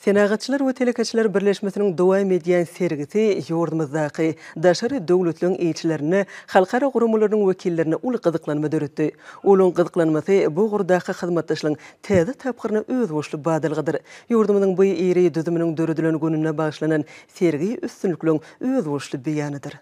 Senagatçylar we telekeçiler birleşmesiniň dowam edýän sergisi ýurdumyzdaky daşary döwletleriň ilçilerinde, halkara guramalarynyň wekillerinde uly gyzyklanma döretdi. Olaryň gyzyklanmasy bu ugurdaky hyzmatdaşlygyň täze tapgyryna özboluşly badalgadyr. Ýurdumyzyň bu iri düzüminiň döredilen gününe bagyşlanan sergi üstünlikligiň özboluşly beýanydyr.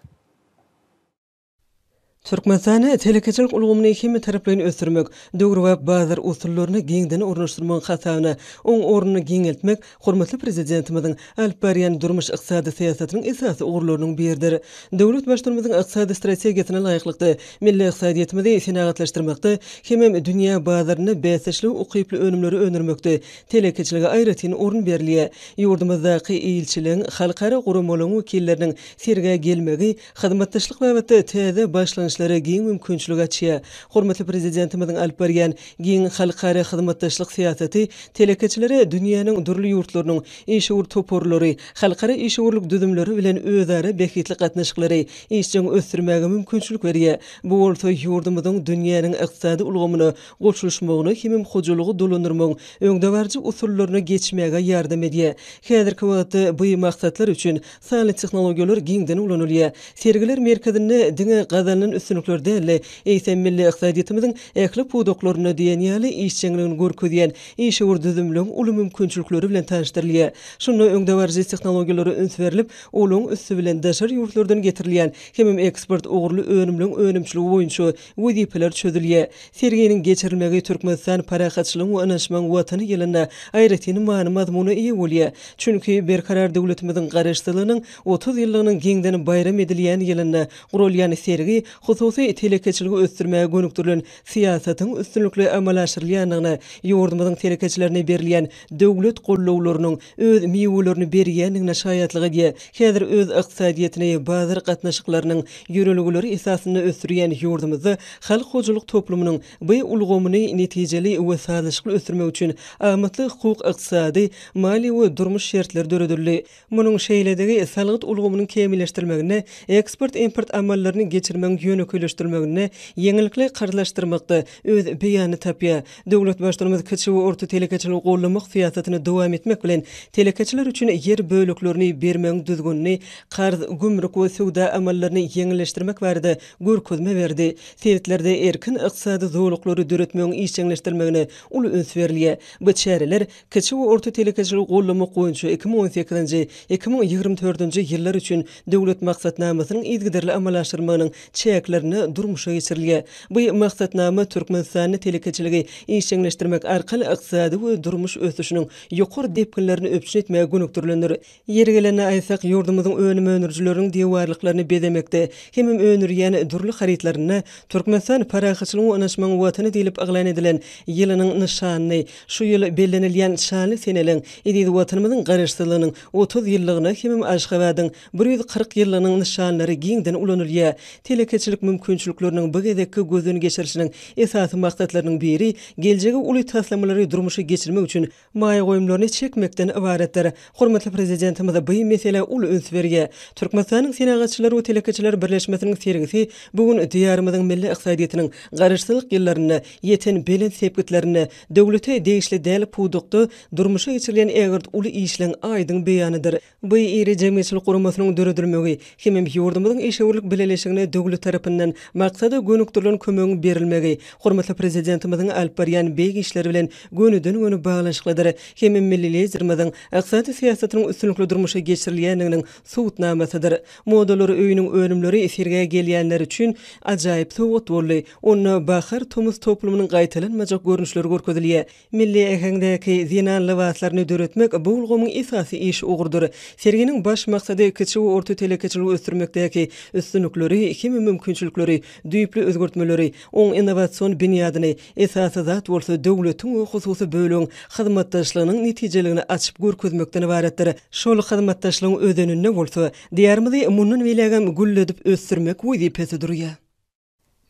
Türkmenistanda telekeçilik ulgamyny hemmetaraplaýyn ösdürmek, döwrebap bazar usullaryny giňden ornaşdyrmagyň hasabyna oň ornuny giňeltmek hormatly Prezidentimiziň alyp barýan durmuş-ykdysady syýasatynyň esasy ugurlarynyň biridir. Döwlet Baştutanymyzyň ykdysady strategiýasyna laýyklykda, milli ykdysadyýetimizi senagatlaşdyrmakda hemem dünýä bazarynda bäsdeşlige ukyply önümleri öndürmekde telekeçilige aýratyn orun berilýär. Ýurdumyzdaky ilçiligiň, halkara guramalaryň wekilleriniň sergä gelmegi, Hyzmatdaşlyk babatda täze başlangyçlara giň mümkinçilik açýar. Hormatly Prezidentimiziň alyp barýan giň halkara hyzmatdaşlyk syýasaty telekeçilere dünýäniň dürli ýurtlarynyň işewür toparlary, halkara işewürlik düzümleri bilen özara bähbitli gatnaşyklary işjeň ösdürmäge mümkinçilik berýär, bu bolsa ýurdumyzyň dünýäniň ykdysady ulgamyna goşulyşmagyna hemem hojalygy dolandyrmagyň öňdebaryjy usullaryna geçmäge ýardam edýär. Häzirki wagtda bu maksatlar üçin Sanly tehnologiýalar giňden ulanylýar. Sergiler merkezinde diňe gazanylan üstünlikler däl-de, eýsem, milli ykdysadyýetimiziň ähli pudaklarynda diýen ýaly işjeňligini görkezýän işewür düzümligiň uly mümkinçilikleri bilen tanyşdyrylýar. Şunda öňdebaryjy tehnologiýalara üns berlip, olaň üsti bilen daşary ýurtlardan getirilýän hemem eksport ugurly önümleň önümçiligi boýunça wezipeler çözülýär. Serginiň geçirilmegi Türkmenistan parahatçylygyň we ynanyşmagyň Watany ýylynda aýratyn many-mazmuna eýe bolýar. Çünki Berkarar döwletimiziň Garaşsyzlygynyň otuz ýyllygynyň giňden baýram edilýän ýylynda guralýan sergi hususy telekeçiligi ösdürmäge gönükdirilen syýasatyň üstünlikli amala aşyrylýandygyna, ýurdumyzyň telekeçilerine berilýän döwlet gollawlarynyň öz miwelerini berýändigine şaýatlyk edýär. Häzir öz ykdysadyýetini bazar gatnaşyklarynyň ýörelgeleri esasynda ösdürýän ýurdumyzda halk hojalyk toplumynyň by ulgamyny netijeli we sazlaşykly ösdürmek üçin amatly hukuk-ykdysady, maliýe we durmuş şertleri döredildi. Munuň şeýledigi salgyt ulgamynyň kämilleşdirilmeginde, eksport-import amallaryny geçirmegiň ýönekeýleşdirilmeginde, ýeňillikli karzlaşdyrmakda öz beýanyny tapýar. Döwlet Baştutanymyz kiçi we orta telekeçiligi goldamak syýasatyny dowam etmek bilen, telekeçiler üçin ýer böleklerini bermegiň düzgünini, karz, gümrük we söwda amallaryny ýeňilleşdirmek barada görkezme berdi. Sebitlerde erkin ykdysady zolaklary döretmegiň işjeňleşdirilmegine uly üns berilýär. Bu çäreler Kiçi we orta telekeçiligi goldamak boýunça iki müň on sekizinji, iki müň ýigrimi dördünji ýyllar üçin Döwlet maksatnamasynyň yzygiderli amala aşyrmagynyň çäklerinde durmuşa geçirilýär. Bu Maksatnama Türkmenistanda telekeçiligi işjeňleşdirmek arkaly ykdysady we durmuş ösüşiniň ýokary depginlerini üpjün etmäge gönükdirilendir. Ýeri gelende aýtsak, ýurdumyzyň önüm öndürijileriniň diwarlyklaryny bezemekde hemem öndürýän dürli harytlarynda Türkmenistan parahatçylygyň we ynaşmagyň Watany diýlip yglan edilen ýylynyň nyşanyny, şu ýyl bellenilýän şanly seneliň, eziz Watanymyzyň Garaşsyzlygynyň otuz ýyllygyna hemem Aşgabadyň bir ýüz kyrk ýyllygynyň nyşanlary giňden ulanylýar. Telekeçilik mümkinçilikleriniň bu gezekki gözden geçirişiniň esasy maksatlarynyň biri geljege uly taslamalary durmuşa geçirmek üçin maýa goýumlaryny çekmekden ybaratdyr. Hormatly Prezidentimiz bu meselä uly üns berýär. Türkmenistanyň Senagatçylar we telekeçiler birleşmesiniň sergisi bu gün Diýarymyzyň milli ykdysadyýetiniň Garaşsyzlyk ýyllarynda ýeten belent sepgitlerinde döwlete degişli däl pudakda durmuşa geçirilýän ägirt uly işleň aýdyň beýanydyr. Bu iri jemgyýetçilik guramasynyň döredilmegi hemem ýurdumyzyň işewürlik bileleşigine döwlet tarapyndan maksada gönükdirilen kömegiň berilmegi hormatly Prezidentimiziň alyp barýan beýik işleri bilen gönüden-göni baglanyşyklydyr hemem milli Liderimiziň ykdysady syýasatynyň üstünlikli durmuşa geçirilýändiginiň subutnamasydyr. Modalar öýüniň önümleri sergä gelýänler üçin ajaýyp sowgat boldy. Onda bahar-tomus toplumynyň gaýtalanmajak görnüşleri görkezilýär. Milli äheňdäki zenan lybaslaryny döretmek bu ulgamyň esasy iş ugrudyr. Serginiň baş maksady kiçi we orta telekeçiligi ösdürmekdäki üstünlikleri hem-de mümkinçilikleri, düýpli özgertmeleri, oň innowasion binýadyny, esasy zat bolsa döwletiň we hususy bölegiň hyzmatdaşlygynyň netijeligini açyp görkezmekden ybaratdyr. Şol hyzmatdaşlygyň özeninde bolsa, Diýarymyzy mundan beýlägem gülledip ösdürmek wezipesi durýar.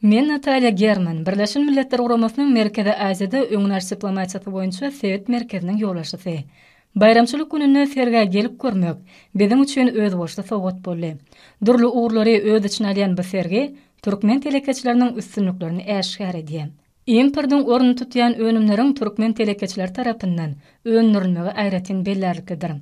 Men Natalýa German, Birleşen Milletler Guramasynyň Merkezi Aziýada öňüni alyş diplomatiýasy boýunça sebit merkeziniň ýolbaşçysy. Baýramçylyk gününde sergä gelip görmek biziň üçin özboluşly sowgat boldy. Dürli ugurlary öz içine alýan bu sergi türkmen telekeçileriniň üstünliklerini äşgär edýär. Importyň ornuny tutýan önümleriň türkmen telekeçileri tarapyndan öndürilmegi aýratyn bellärliklidir.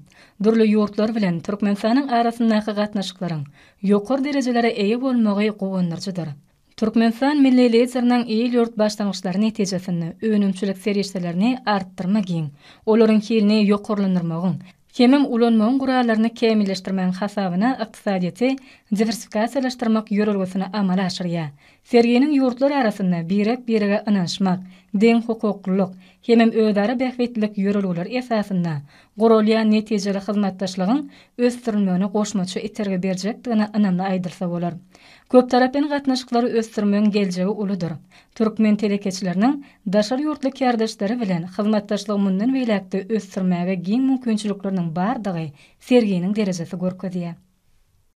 Dürli ýurtlar bilen Türkmenistanyň arasyndaky gatnaşyklaryň ýokary derejelere eýe bolmagy guwandyryjydyr. Türkmenistan milli Lideriniň il-ýurt başlangyçlary netijesinde önümçilik serişdelerini artdyrma giň, olaryň hilini ýokarlandyrmagyň, hemem ulanmagyň gurallaryny kämilleşdirmegiň hasabyna ykdysadyýeti diwersifikasiýalaşdyrmak ýörelgesini amala aşyrýar. Serginiň ýurtlar arasynda birek-birege ynanyşmak, deňhukuklylyk, hemem özara bähbitlilik ýörelgeleri esasynda guralýan netijeli hyzmatdaşlygyň ösdürilmegine goşmaça itergi berjekdigine ynamly aýdylsa bolar. Köptaraplaýyn gatnaşyklary ösdürmegiň geljegi uludyr. Türkmen telekeçileriniň daşary ýurtly kärdeşleri bilen hyzmatdaşlygy mundan beýläk-de ösdürmäge giň mümkinçilikleriniň bardygy serginiň derejesi görkezýär.